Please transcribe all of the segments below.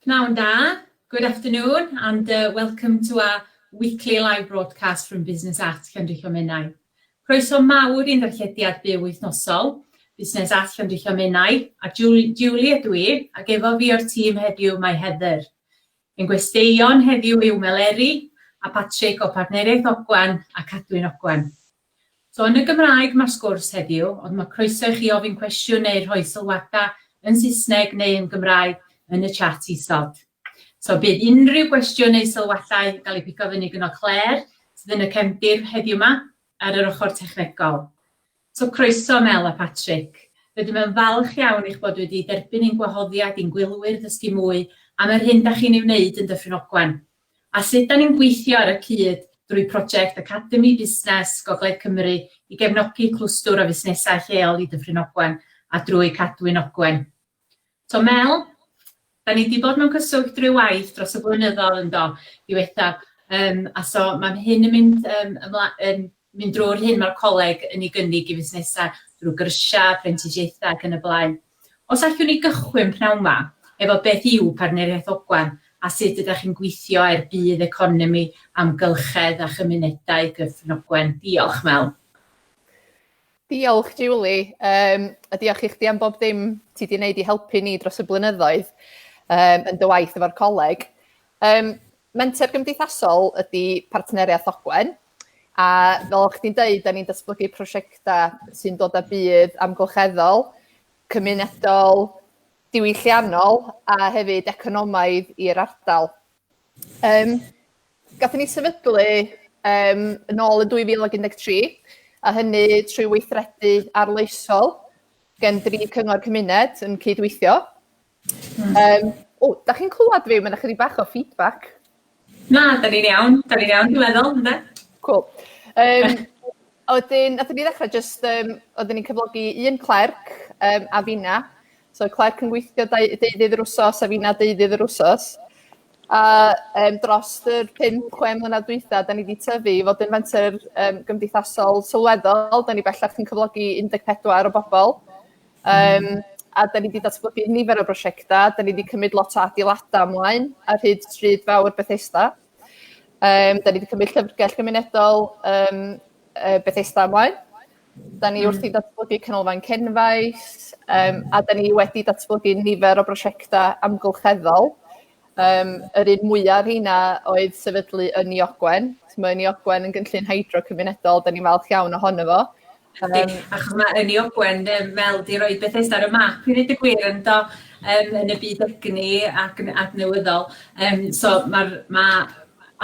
Pnawn da, good afternoon, and welcome to our weekly live broadcast from Business at Llandrillo Menai. Croeso mawr i'n darllediad byw wythnosol, Busnes at Llandrillo Menai, a Julie ydw i, ac efo fi o'r tîm heddiw mae Heather. Ein gwesteion heddiw yw Meleri a Patrick o Partneriaeth Ogwen a Cadwyn Ogwen. So yn y Gymraeg mae'r sgwrs heddiw, ond mae croeso i chi ofyn cwestiwn neu rhoi sylwadau yn Saesneg neu yn Gymraeg yn y chat isod. So bydd unrhyw gwestiwn neu sylwadau yn cael eu pigo fyny gyno Claire, sydd yn y cefndir heddiw yma, ar yr ochr technegol. So croeso Mel a Patrick. Rydym yn falch iawn eich bod wedi derbyn ein gwahoddiad i'n gwylwyr ddysgu mwy am yr hyn da chi'n ei wneud yn Dyffryn Ogwen. a sut 'da ni'n gweithio ar y cyd drwy project Academi Busnes Gogledd Cymru i gefnogi clwstwr o fusnesau lleol i Dyffryn Ogwen a drwy Cadwyn Ogwen. So Mel, 'da ni 'di bod mewn cyswllt ryw waith dros y blynyddoedd yn do, diwethaf, um, a so mae hyn yn mynd, um, ymla, yn mynd drwy'r hyn mae'r coleg yn ei gynnig i fusnesau drwy gyrsiau, prentisiaethau ac yn y blaen. Os allwn ni gychwyn p'nawn 'ma efo beth yw Partneriaeth Ogwen a sut ydach chi'n gweithio er budd economi, amgylchedd a chymunedau Cyfn Ogwen. Diolch, Mel. Diolch, Julie, um, a diolch i chdi am bob dim ti di wneud i helpu ni dros y blynyddoedd um, yn dy waith efo'r coleg. Um, Menter gymdeithasol ydy Partneriaeth Ogwen a fel o'ch chdi'n deud, da ni'n datblygu prosiectau sy'n dod â budd amgylcheddol, cymunedol, diwylliannol a hefyd economaidd i'r ardal. Um, Gathen ni sefydlu um, yn ôl yn 2013, a hynny trwy weithredu arloesol gen dri cyngor cymuned yn cydweithio. Hmm. Um, o, da chi'n clywed fi? Mae'n ychydig bach o feedback. Na, da ni'n iawn. Da ni'n iawn, dwi'n meddwl, ynddo? Cool. Um, Oedden, oedden ni ddechrau just, um, oedden ni'n cyflogi un clerc um, a fina. So clerc yn gweithio deuddydd yr wsos a fina deuddydd yr wsos. A um, dros yr 5-6 mlynedd dwytha, da ni wedi tyfu i fod yn fenter um, gymdeithasol sylweddol. Da ni bellach yn cyflogi 14 o bobl. Um, a da ni wedi datblygu nifer o brosiectau, da ni wedi cymryd lot o adeiladau ymlaen ar hyd stryd fawr Bethesda. Um, da ni wedi cymryd llyfrgell gymunedol um, Bethesda ymlaen. Da ni wrth i hmm. datblygu canolfan cenfaith, um, a da ni wedi datblygu nifer o brosiectau amgylcheddol Um, yr un mwyaf rheina oedd sefydlu yn i Ogwen. Mae yn i Ogwen yn gynllun hydro cymunedol, da ni'n falch iawn ohono fo. Ydy, um, achos mae yn i Ogwen fel di roi Bethesda ar y map i ddweud y gwir yn do um, yn y byd egni ac yn adnewyddol. Um, so mae'r ma,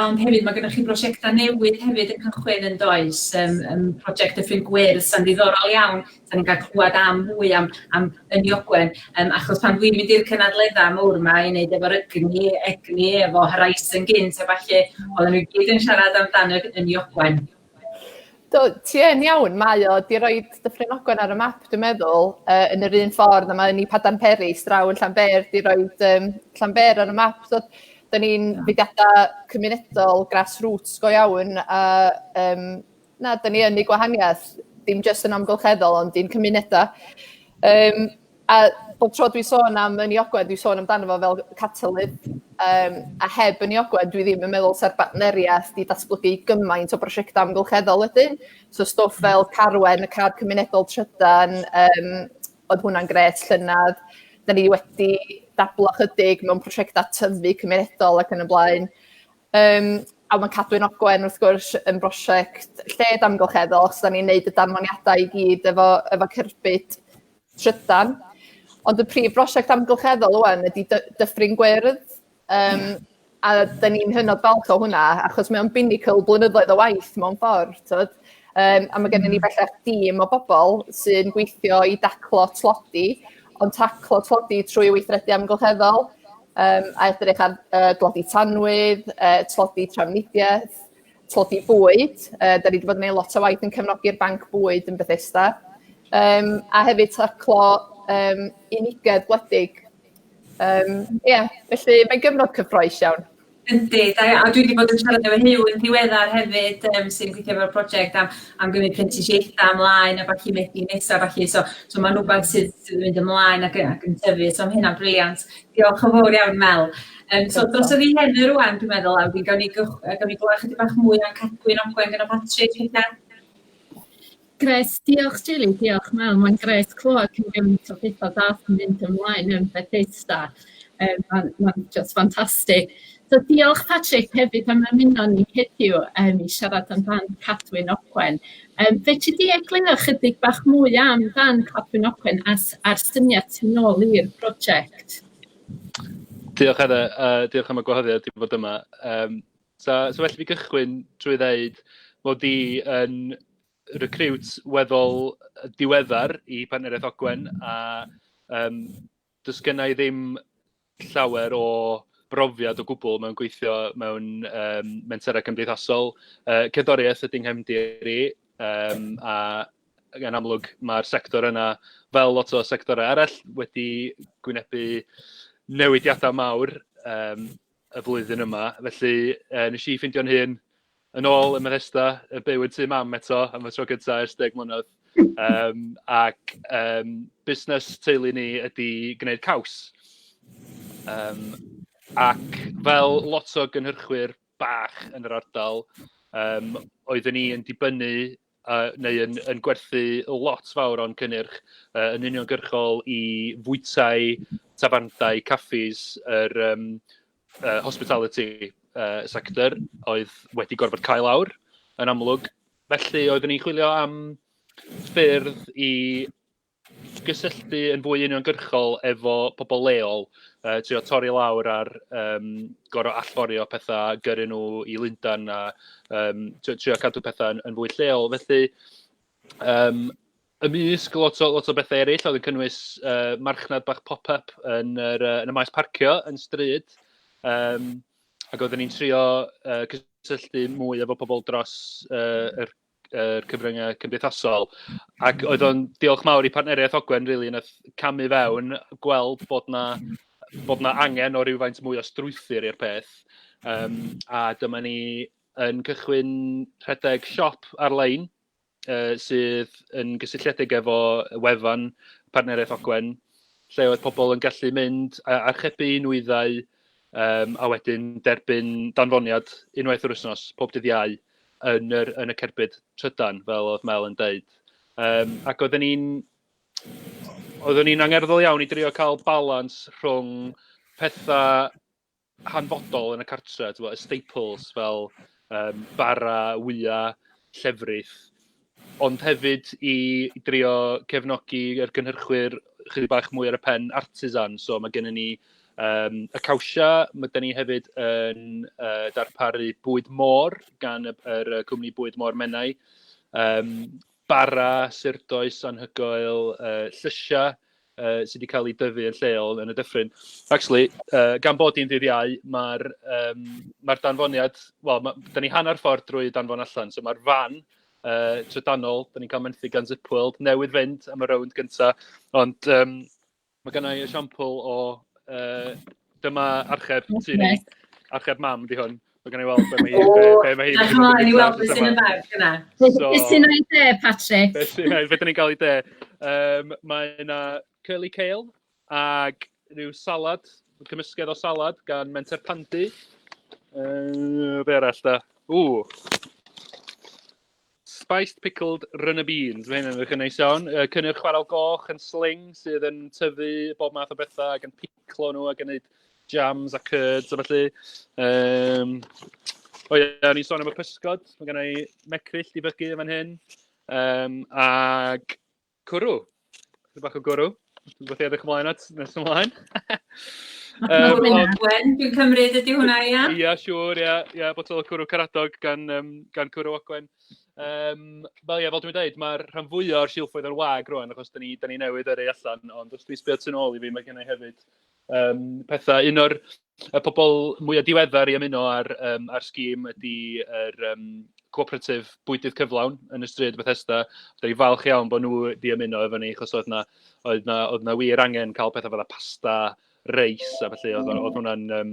ond hefyd mae gennych chi brosiectau newydd hefyd yn cychwyn yn does, um, um, prosiect y ffrind gwyrdd sy'n ddiddorol iawn Dan ni'n cael clywed am mwy am, am yn Iogwen, um, achos pan dwi'n mynd i'r cynadleddau mawr yma i wneud efo'r egni, egni efo Horizon gynt a falle, oedden nhw gyd yn siarad amdano yn Iogwen. Do, ti yn iawn, mae o, di roi Dyffryn Ogwen ar y map, dwi'n meddwl, uh, yn yr un ffordd a mae ni Padan Peri, straw yn Llanber, di roi um, Llanber ar y map. So, da ni'n fudiadau cymunedol, grassroots go iawn, a um, Na, da ni yn ei gwahaniaeth, dim jyst yn amgylcheddol, ond i'n cymunedau. Um, a bob tro dwi'n sôn am yn ei ogwen, dwi'n sôn amdano fo fel catalydd, um, a heb yn ei ogwen, dwi ddim yn meddwl sa'r bartneriaeth i datblygu gymaint o brosiectau amgylcheddol wedyn. So stwff fel Carwen, y car cymunedol trydan, um, oedd hwnna'n gret llynedd. Da ni wedi dablo chydig mewn prosiectau tyfu cymunedol ac yn y blaen. Yym a ma' Cadwyn Ogwen wrth gwrs yn brosiect lled amgylcheddol achos 'dan ni'n neud y danfoniadau i gyd efo efo cerbyd trydan ond y prif brosiect amgylcheddol ŵan ydi dy- Dyffryn Gwyrdd yym a 'dan ni'n hynod falch o hwnna achos mae o'n binnacle blynyddoedd o waith mewn ffordd t'od yym a ma' gennon ni bellach dîm o bobol sy'n gweithio i daclo tlodi Ond taclo tlodi trwy weithredu amgylcheddol, um, a edrych ar uh, dlodi tanwydd, uh, tlodi trafnidiaeth, tlodi bwyd. Uh, da ni wedi bod yn gwneud lot o waith yn cefnogi'r banc bwyd yn Bethesda. Um, a hefyd taclo um, unigedd gwledig. Um, yeah, felly mae'n gyfnod cyffroes iawn. Yndi, da iawn. A dwi wedi bod yn siarad efo Huw yn diweddar hefyd, um, sy'n gweithio efo'r prosiect am, am gymryd prentisiaethau ymlaen a falle methu nesaf, falle. So, so mae'n rhywbeth sydd, sydd yn mynd ymlaen ac, ac yn tyfu. So mae hynna'n briliant. Diolch yn fawr iawn, Mel. Um, so dros y fi hyn yr rwan, dwi'n meddwl, a fi'n gawn ni, gawn ni glywed chydig bach mwy am cadwyn ogwen gyda Patrick, felly. Grêt, diolch Julie, diolch Mel, mae'n grêt clywed cyn gymaint o pethau da sy'n mynd ymlaen yn Bethesda, um, mae'n ma just ffantastig. So diolch Patrick hefyd am ymuno ni heddiw um, i siarad amdan Cadwyn Ogwen. Um, fe ti di egluro chydig bach mwy am dan Cadwyn Ogwen as, a'r syniad sy'n ôl i'r prosiect? Diolch Heather, uh, diolch am y gwahoddiad i fod yma. Um, So, so well i fi gychwyn drwy ddeud mod i yn recriwt weddol diweddar i Partneriaeth Ogwen a yym does gynna i ddim llawer o brofiad o gwbl mewn gweithio mewn yym menterau cymdeithasol. Yy cerddoriaeth ydy nghefndir i yym a yn amlwg ma'r sector yna fel lot o sectorau arall wedi gwynebu newidiadau mawr yym. y flwyddyn yma, felly yy wnes i ffeindio'n hun yn ôl ym Methesda, yn byw yn tŷ mam eto am y tro cynta ers deg mlynedd. Um, ac um, busnes teulu ni ydy gwneud caws. Um, ac fel lot o gynhyrchwyr bach yn yr ardal, um, oeddwn ni yn dibynnu a neu yn yn gwerthu lot fawr o'n cynnyrch yy yn uniongyrchol i fwytai, tafarndai, caffis, yr yym yy hospitality yy sector oedd wedi gorfod cau lawr yn amlwg. Felly oeddwn i'n chwilio am ffyrdd i gysylltu yn fwy uniongyrchol efo pobl leol, uh, trio torri lawr ar um, gorau allforio pethau, gyrru nhw i Lundan a um, trio cadw pethau yn, yn fwy lleol. Felly, um, ymysg lot o, lot o bethau eraill, oedd yn cynnwys uh, marchnad bach pop-up yn, yr, uh, yn y maes parcio yn stryd, um, ac oeddwn ni'n trio uh, cysylltu mwy efo pobl dros uh, yr yr cyfryngau cymdeithasol. Ac oedd o'n diolch mawr i partneriaeth Ogwen, really, yn camu fewn, gweld bod na, bod na angen o rywfaint mwy o strwythyr i'r peth. Um, a dyma ni yn cychwyn rhedeg siop ar-lein uh, sydd yn gysylltiedig efo wefan partneriaeth Ogwen, lle oedd pobl yn gallu mynd a archebu nwyddau um, a wedyn derbyn danfoniad unwaith yr wythnos, pob dydd iau, yn yr yn y cerbyd trydan fel oedd Mel yn deud. Yym ac oedden ni'n oeddwn ni'n angerddol iawn i drio cael balans rhwng pethau hanfodol yn y cartre, y staples fel um, bara, wyau, llefrith, ond hefyd i drio cefnogi yr gynhyrchwyr chydig bach mwy ar y pen artisan. So mae gennym ni um, y cawsia, mae gennym ni hefyd yn uh, darparu bwyd môr gan y, yr cwmni bwyd môr Menai, um, bara, surdoes, anhygoel, uh, llysiau, uh, sydd wedi cael ei dyfu yn lleol yn y dyffryn. Actually, uh, gan bod hi'n ddydd iau, mae'r um, mae danfoniad, wel, ma, da ni hanner ffordd drwy danfon allan, so mae'r fan uh, trydanol, da ni'n cael menthyg gan Zipworld, newydd fynd am y rownd gyntaf, ond um, mae gennau esiampl o uh, Dyma archeb sy'n ni. Archeb mam, di hwn. Mae gen i weld be mae hi... O, be mae hi... Dyma i weld beth sy'n y bag yna. Beth sy'n ei de, Patrick? Beth sy'n ei, beth ni'n cael ei de. Um, mae yna curly kale ac rhyw salad, cymysgedd o salad gan Menter Pandy. Uh, be arall da? Ww. Spiced pickled runner beans, mae hyn yn edrych yn neis iawn. Uh, cynnyrch chwarel goch yn sling sydd yn tyfu bob math o bethau ac yn piclo nhw ac yn gwneud jams a curds a felly. Um, o ie, o'n i'n sôn am y pysgod, mae gen i mecryll di bygu yn fan hyn. Um, ac Cwrw. Chydig bach o gwrw. Beth i edrych ymlaen at nes ymlaen. um, ond... Gwen, dwi'n cymryd ydy hwnna, ia? Ia, siwr, ia. Ia, botol o cwrw caradog gan, um, gan cwrw ogwen. Um, fel ia, fel dwi'n dweud, mae'r rhan fwyaf o'r silffoedd yn wag rwan, achos da ni, da ni newydd yrru allan, ond os dwi'n sbio tu ôl i fi, mae gennau hefyd yym petha. Un o'r y pobl mwya diweddar i ymuno â'r yym â'r scheme ydy yr yym co-operative bwydydd cyflawn yn y stryd Bethesda. Dan ni'n falch iawn bod nhw 'di ymuno efo ni achos oedd 'na oedd 'na oedd 'na wir angen cael petha fatha pasta, reis a ballu. Oedd oedd hwnna'n yym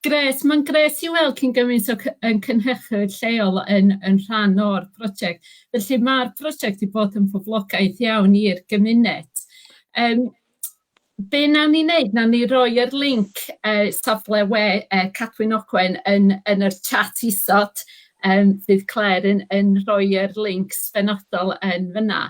Grêt, mae'n grêt i weld cyn gymaint o cy- ein cynhyrchwyr lleol yn yn rhan o'r prosiect. Felly mae'r prosiect 'di bod yn boblogaeth iawn i'r gymuned. Yym be wnawn ni wneud, wnawn ni roi'r linc yy safle we yy Cadwyn Ogwen yn yn yr chat isod, yym fydd Clare yn yn rhoi'r lincs benodol yn fanna.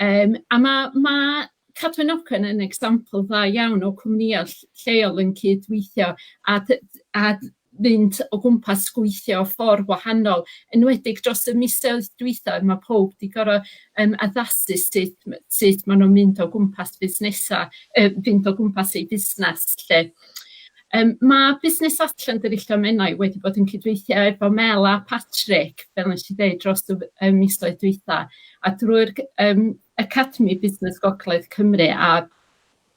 Yym a ma' ma' Cadwyn Ogwen yn example dda iawn o cwmnïau lleol yn cyd-weithio a d- a fynd o gwmpas gweithio ffordd wahanol, enwedig dros y misoedd dwytha, ma' powb 'di gor'o' yym addasu sut m- sut ma' nw'n mynd o gwmpas busnesa', yy fynd o gwmpas eu busnes 'lly. Yym ma' Busnes Atlanta Rillto Menai wedi bod yn cydweithio efo Mel a Patrick, fel nesh i ddeud dros y f- y misoedd dwytha, a drwy'r cy- yym Academi Busnes Gogledd Cymru a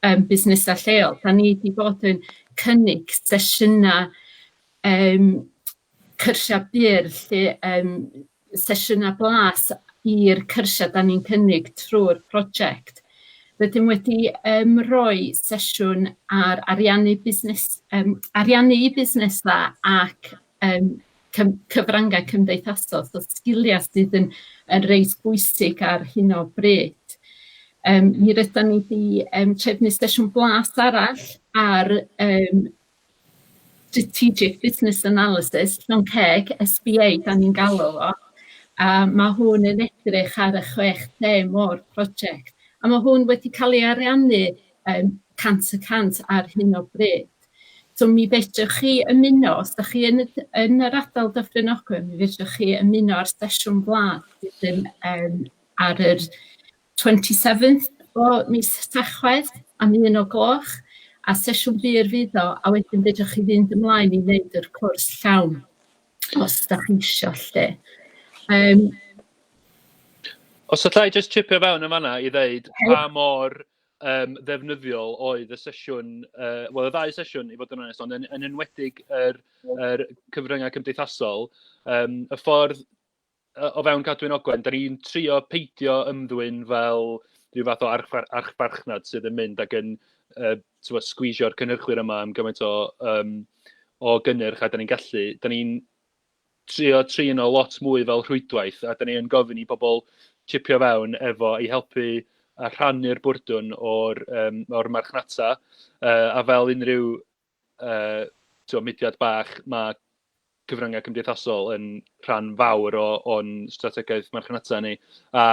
yym busnesau lleol, 'dan ni 'di bod yn cynnig sesiynau yym cyrsiau byr lle yym sesiynau blas i'r cyrsiau 'dan ni'n cynnig trwy'r project. Rydym wedi yym rhoi sesiwn ar ariannu busnes yym ariannu busnesau ac yym cym- cyfryngau cymdeithasol, so sgiliau sydd yn yn reit bwysig ar hyn o bryd. Yym mi rydan ni 'di yym trefnu sesiwn blas arall ar yym strategic business analysis, SBA 'dan ni'n galw fo, a ma' hwn yn edrych ar y chwech theme o'r project, a ma' hwn wedi ca'l ei ariannu yym cant y cant ar hyn o bryd. So mi fedrwch chi ymuno, os da chi yn y d- yn yr ardal Dyffryn Ogwen, mi fedrwch chi ymuno â'r sesiwn glas sydd yn yym ar yr 27th o mis Tachwedd am un o gloch, a sesiwn byr fydd o, a wedyn fedrwch chi fynd ymlaen i wneud yr cwrs llawn, os da chi isio 'lly. Yym. Os alla i jyst chipio fewn yn fan'na i ddeud pa mor yym ddefnyddiol oedd y sesiwn, yy wel y ddau sesiwn i fod yn onest, ond yn yn enwedig yr yr cyfryngau cymdeithasol, yym y ffordd yy o fewn Cadwyn Ogwen, dan ni'n trio peidio ymddwyn fel ryw fath o archfa- archfarchnad sydd yn mynd ac yn yy timod sgwîsio'r cynhyrchwyr yma am gymaint o yym o gynnyrch a dan ni'n gallu. Dan ni'n... trio trin o lot mwy fel rhwydwaith a dan ni yn gofyn i bobl chipio fewn efo i helpu a rhannu'r bwrdwn o'r yym o'r marchnata yy a fel unrhyw yy tibod mudiad bach ma' cyfryngau cymdeithasol yn rhan fawr o o'n strategaeth marchnata ni a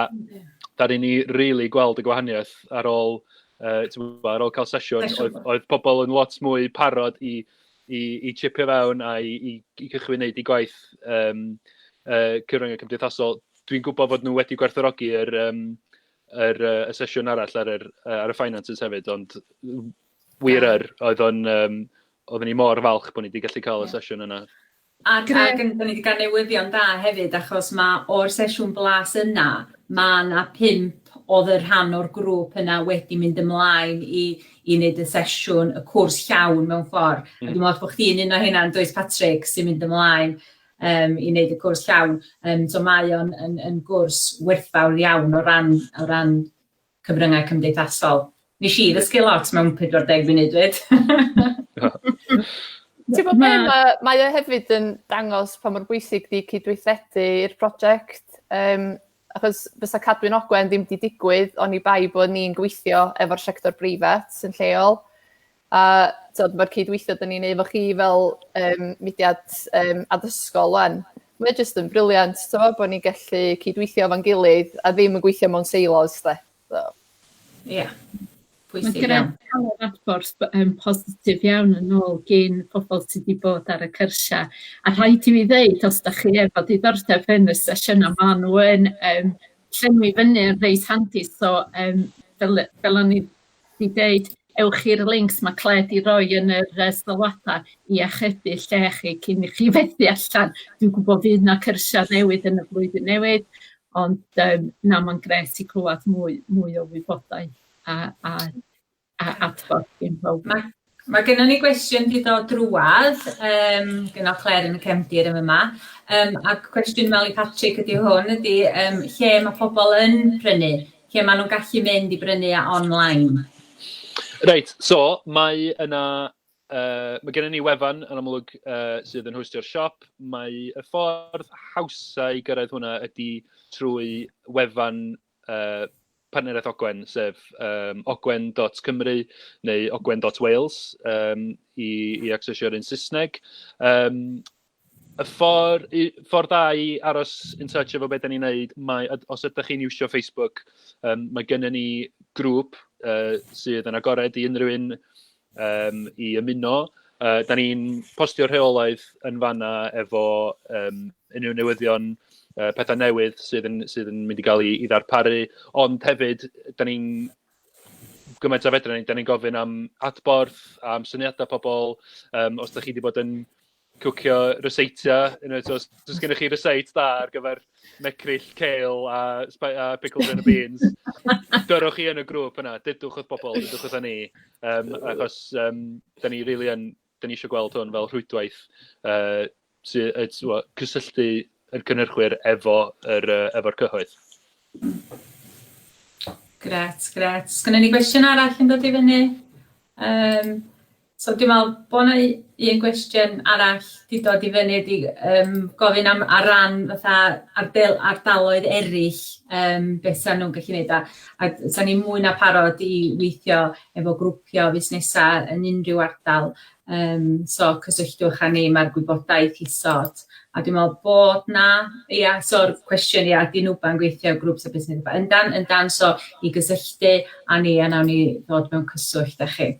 dan ni'n ei rili gweld y gwahaniaeth ar ôl yy timod ar ôl cael sesiwn oedd oedd pobl yn lot mwy parod i i i tsipio fewn a i i i gychwyn wneud eu gwaith yym yy cyfryngau cymdeithasol. Dwi'n gwybod fod nhw wedi gwerthfawrogi yr yym yr yy y sesiwn arall ar yr yy ar y finances hefyd, ond wir yr oedd o'n yym oedden ni mor falch bod ni 'di gallu cael y sesiwn yna. Ac a gyn- dan ni 'di ga'l newyddion da hefyd achos ma' o'r sesiwn blas yna ma' 'na pump odd y rhan o'r grŵp yna wedi mynd ymlaen i i neud y sesiwn y cwrs llawn mewn ffor. Hmm. A dwi me'wl bo' chdi'n un o heina yndwyt Patrick sy'n mynd ymlaen yym i neud y cwrs llawn yym so mae o'n yn yn gwrs werthfawr iawn o ran o ran cyfryngau cymdeithasol. Nes i ddysgu lot mewn 40 munud dwed. Ti'n bod beth, mae, mae o hefyd yn dangos pa mor bwysig di cydweithredu i'r prosiect. Um, achos bysa Cadwyn Ogwen ddim wedi digwydd o'n i bai bod ni'n gweithio efo'r sector breifat yn lleol. A tibod ma'r cydweithio 'dan ni'n neu' efo chi fel yym mudiad yym addysgol ŵan mae o jyst yn brilliant t'mo' bo' ni'n gallu cydweithio efo'n gilydd a ddim yn gweithio mewn silos 'de so... Ia. Pwysig iawn. Ma'n grêt ca'l yr adborth b- yym positif iawn yn ôl gin pobol sy 'di bod ar y cyrsia a rhaid i mi ddeud os 'dach chi efo diddordeb yn y sesiyna ma' n'w yn yym llenwi fyny yn reit handi so yym fel yy fel o'n i 'di deud ewch i'r links ma' Clare 'di roi yn yr yy sylwada i achebu lle chi cyn i chi fethu allan. Dwi'n gwbo fydd 'na cyrsia newydd yn y flwyddyn newydd ond yym na ma'n grêt i clwad mwy mwy o wybodaeth a a a adborth gin powb. Mae gennon ni gwestiwn di dod drwad um, gen o Claire yn y cefndir yn yma. Um, ac cwestiwn Meli Patrick ydy hwn, ydy um, lle mae pobl yn prynu, lle maen nhw'n gallu mynd i brynu a online. Reit, so mae yna, uh, mae gennym ni wefan yn amlwg uh, sydd yn hostio'r siop. Mae y ffordd hawsau i gyrraedd hwnna ydy trwy wefan uh, partneriaeth Ogwen, sef um, ogwen.cymru neu ogwen.wales um, i, i accessio'r un Saesneg. Um, y ffordd, ffordd dda i aros yn touch efo beth da ni'n neud, mae, os ydych chi'n iwsio Facebook, um, mae gennym ni grŵp uh, sydd yn agored i unrhyw un yym i ymuno. Yy dan ni'n postio rheolaeth yn fan'na efo yym unrhyw newyddion, yy petha newydd sydd yn sydd yn mynd i gael ei ddarparu. Ond hefyd dan ni'n gymaint a fedra ni, dan ni'n gofyn am adborth, am syniadau pobl, yym os dach chi 'di bod yn... cwcio ryseitio, you know, os oes gennych chi ryseit da ar gyfer mecryll, cael a, a pickled and beans, dyrwch chi yn y grŵp yna, dydwch wrth bobl, dydwch wrth ni, um, achos um, da ni really yn, da ni eisiau gweld hwn fel rhwydwaith uh, sy, uh, cysylltu yr cynhyrchwyr efo yr, uh, efo'r cyhoedd. Gret, gret. Sgynny ni gwestiwn arall yn dod i fyny? Um, So dwi'n meddwl bod yna un gwestiwn arall wedi dod i fyny ydy yym gofyn am ar ran fatha ardal- ardaloedd eraill yym beth 'sa nhw'n gallu wneud a a 'sa ni mwy na parod i weithio efo grwpiau o fusnesau yn unrhyw ardal yym so cysylltwch â ni mae'r gwybodaeth isod a dwi'n meddwl bod 'na ia so'r cwestiwn ia ydy NWBA'n gweithio efo grŵps a busnesau? Yndan yndan so i gysylltu â ni a wnawn ni ddod mewn cyswllt â chi.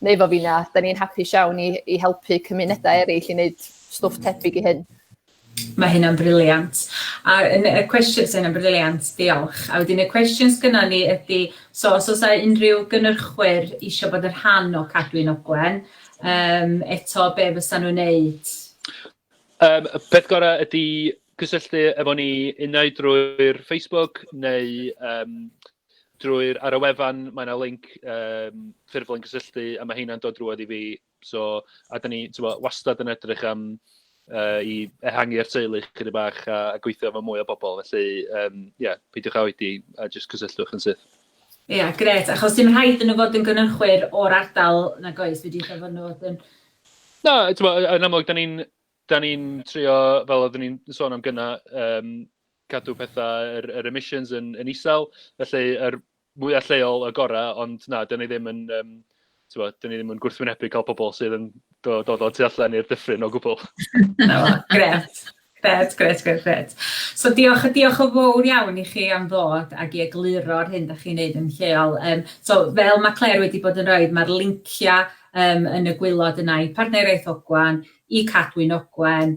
neu efo finna, da ni'n hapus iawn i i helpu cymunedau eraill i wneud stwff tebyg i hyn. Mae hynna'n briliant. A yn y cwestiwn, so hynna'n briliant, diolch. A wedyn y cwestiwn sgynna ni ydy, so os oes unrhyw gynnyrchwyr eisiau bod yn rhan o Cadwyn Ogwen, um, eto be fysa nhw'n neud? Um, y peth gorau ydy cysylltu efo ni unau drwy'r Facebook neu um, Drwy'r... ar y wefan mae 'na linc yym ffurflen gysylltu a ma' heina'n dod drwodd i fi. So a dan ni timod wastad yn edrych am yy i ehangu'r teulu ychydig bach a a gweithio efo mwy o bobl. Felly yym ia, peidiwch â oedi a jyst cysylltwch yn syth. Ia, grêt. Achos dim rhaid iddyn nhw fod yn gynhyrchwyr o'r ardal nag oes, fedrith o fod nhw fod yn... Na, timod yn amlwg dan ni'n dan ni'n trio fel oedden ni'n sôn am gynnau yym cadw pethau, yr yr emissions yn yn isel, felly yr mwya lleol y gora, ond na, 'dyn ni ddim yn yym t'mod, 'dyn ni ddim yn gwrthwynebu cael pobl sydd yn do- dod o'r tu allan i'r dyffryn o gwbwl. Na fo, grêt. Grêt grêt grêt grêt. So diolch a diolch yn fowr iawn i chi am ddod ag i egluro'r hyn 'dach chi'n neud yn lleol. Yym so fel ma' Clare wedi bod yn roid ma'r lincia yym yn y gwylod yna i Partneriaeth Ogwen, i Cadwyn Ogwen,